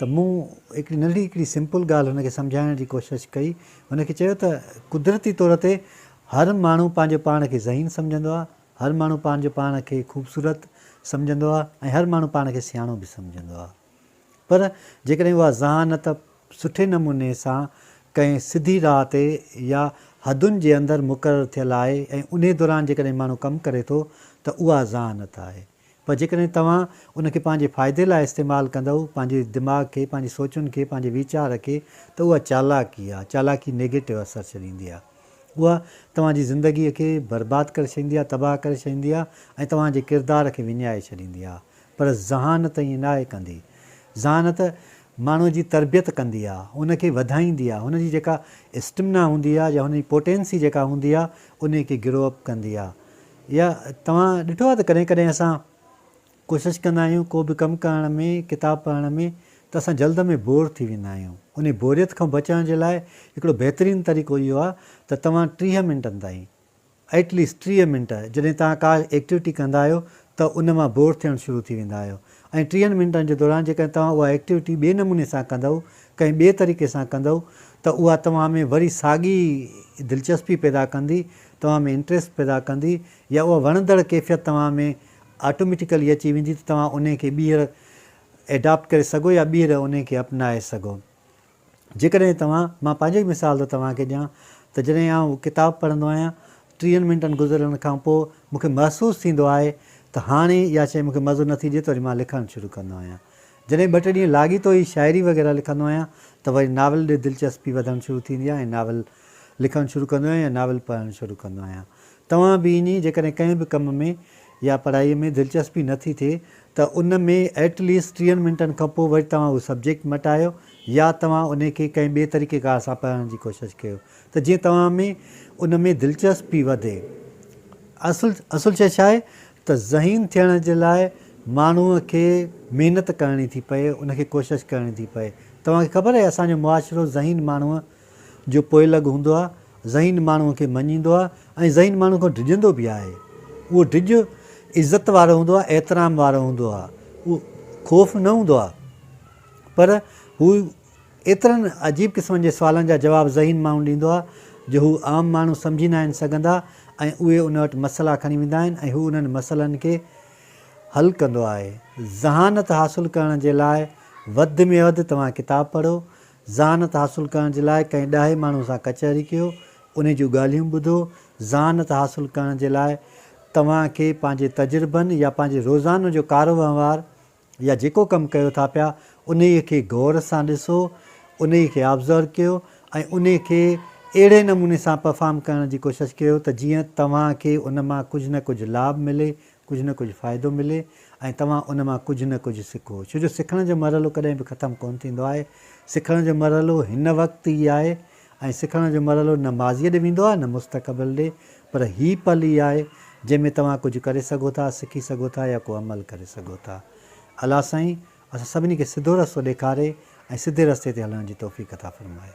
ته مون هڪڙي ننڍي هڪڙي سمپل ڳالهه هن کي سمجهائڻ جي ڪوشش ڪئي. هن کي چيو ته قدرتي طور تي هر ماڻهو پنهنجو پاڻ کي ذهين سمجهندو آهي، هر ماڻهو پنهنجو پاڻ کي خوبصورت سمجهندو آهي ۽ هر ماڻهو پاڻ کي سياڻو به سمجهندو آهي پر جيڪڏهن اها ذهانت سٺي نموني سان ڪنهن سڌي راهه تي يا حدن جي اندر مقرر ٿيل آهي ۽ انهي دوران جيڪڏهن ماڻهو ڪم ڪري ٿو ته اها ذهانت آهي. پر جيڪڏهن توهان ان کي پنهنجي فائدي لاء استعمال ڪندؤ، پنهنجي دماغ کي، پنهنجي سوچن کي، پنهنجي ويچار کي، ته اها چالاڪي آ. چالاڪي نيگيٽو اثر ڇڏيندي آ. اها توهان جي زندگيء کي برباد ڪري ڇڏيندي آ، تباهه ڪري ڇڏيندي آ ۽ توهان جي ڪردار کي وڃائي ڇڏيندي آ. پر ذهانت ائين ناهي ڪندي. ذهانت ماڻهوء جي تربيت ڪندي آ، ان کي وڌائيندي آ، هن جي جيڪا اسٽمنا هوندي آ يا هن جي پوٽينسي جيڪا هوندي آ، انهيء کي گرو اپ ڪندي آ. يا توهان ڏٺو آهي ته ڪڏهن ڪڏهن اسان ڪوشش ڪندا آهيون ڪو به ڪم ڪرڻ ۾ ڪتاب پڙهڻ ۾ ته اسان جلد ۾ بور ٿي ويندا آهيون انهي بوريت کان بچڻ جي لاء هڪڙو بهترين طريقو اهو آهي ته توهان ٽيهه منٽن تائين At least ٽيهه منٽ جڏهن توهان ڪا ايڪٽيوٽي ڪندا آهيو ته ان مان بور ٿيڻ شروع ٿي ويندا آهيو ۽ ٽيهن منٽن جي دوران جيڪڏهن توهان اها ايڪٽيوٽي ٻئي نموني سان ڪندؤ ڪنهن ٻئي طريقي سان ڪندؤ ته اها توهان ۾ وري ساڳي دلچسپي پيدا ڪندي توهان ۾ انٽريسٽ پيدا ڪندي يا اها وڻندڙ ڪيفيت توهان ۾ آٽوميٽيڪلي اچي ويندي ته توهان انهي کي ٻيهر ايڊاپٽ ڪري سگهو يا ٻيهر انهي کي اپنائي سگهو. جيڪڏهن توهان، مان پنهنجو ئي مثال ٿو توهان کي ڏيان ته جڏهن آئون ڪتاب پڙهندو آهيان ٽيهن منٽن گذرڻ کان پوء مون کي محسوس ٿيندو آهي ته هاڻي اها شيء مون کي مزو نٿي ڏي ته وري مان لکڻ شروع ڪندو آهيان جڏهن ٻه ٽي ڏينهن لاڳيتو ئي شاعري وغيره لکندو آهيان ته وري ناول ڏي دلچسپي وڌڻ شروع ٿيندي آهي ۽ ناول لکڻ شروع ڪندو آهيان يا ناول پڙهڻ شروع ڪندو آهيان. توهان به ائين ئي جيڪڏهن ڪنهن به ڪم ۾ يا پڙهائي ۾ دلچسپي نه ٿي ٿئي ته ان ۾ ائٽ ليسٽ ٽيهن منٽن کان پوء وري توهان اهو سبجيڪٽ مٽايو يا توهان انهي کي ڪنهن ٻئي طريقيڪار سان پڙهڻ جي ڪوشش ڪيو ته جيئن توهان ۾ ان ۾ دلچسپي وڌي. اصل اصل شيء ڇا آهي ته ذهين ٿيڻ جي لاء ماڻهوء کي محنت ڪرڻي ٿي پئي، ان کي ڪوشش ڪرڻي ٿي پئي. توهان کي خبر آهي اسان جو معاشرو ذهين ماڻهوء جو پوئلڳ هوندو آهي، ذهين ماڻهوء کي مڃيندو آهي ۽ ذهين ماڻهوء کان ڊڄندو به آهي. اهو ڊڄ عزت وارو هوندو آهي، احترام وارو هوندو آهي، اهو خوف نه هوندو آهي پر هو ايترن عجيب قسمن جي سوالن جا جواب ذهين ماڻهو ڏيندو آهي جو هو عام ماڻهو سمجهي ناهن سگهندا ۽ اهي ان وٽ مسئلا کڻي ويندا آهن ۽ هو انهن مسئلن کي حل ڪندو آهي. ذهانت حاصل ڪرڻ جي لاء وڌ ۾ وڌ توهان ڪتاب پڙهو، ذهانت حاصل ڪرڻ جي لاء ڪنهن ڏاهي ماڻهو سان ڪچهري ڪيو، انهي جون ڳالهيون ٻڌو، ذهانت حاصل ڪرڻ جي لاء توهان کي پنهنجي تجربن يا پنهنجي روزانو جو ڪاروهنوار، يا جيڪو ڪم ڪيو ٿا پيا انهيء کي غور سان ڏسو، انهيء کي آبزرو ڪيو ۽ انهيء کي اهڙي نموني سان پرفارم ڪرڻ جي ڪوشش ڪيو ته جيئن توهان کي ان مان ڪجهه نه ڪجهه لاڀ ملي، ڪجهه نه ڪجهه فائدو ملي ۽ توهان ان مان ڪجهه نه ڪجهه سکو. ڇو جو سکڻ جو مرحلو ڪڏهن به ختم ڪونه ٿيندو آهي. سکڻ جو مرحلو هن وقت ئي آهي ۽ سکڻ جو مرحلو نه ماضيء ڏي ويندو آهي نه مستقبل ڏي پر هي پل ئي آهي جنهن ۾ توهان ڪجهه ڪري سگهو ٿا، سکي سگهو ٿا يا ڪو عمل ڪري سگهو ٿا. الله سائين اسان سڀني کي سڌو رستو ڏيکاري ۽ سڌي رستي تي هلڻ جي توفيق عطا فرمائي.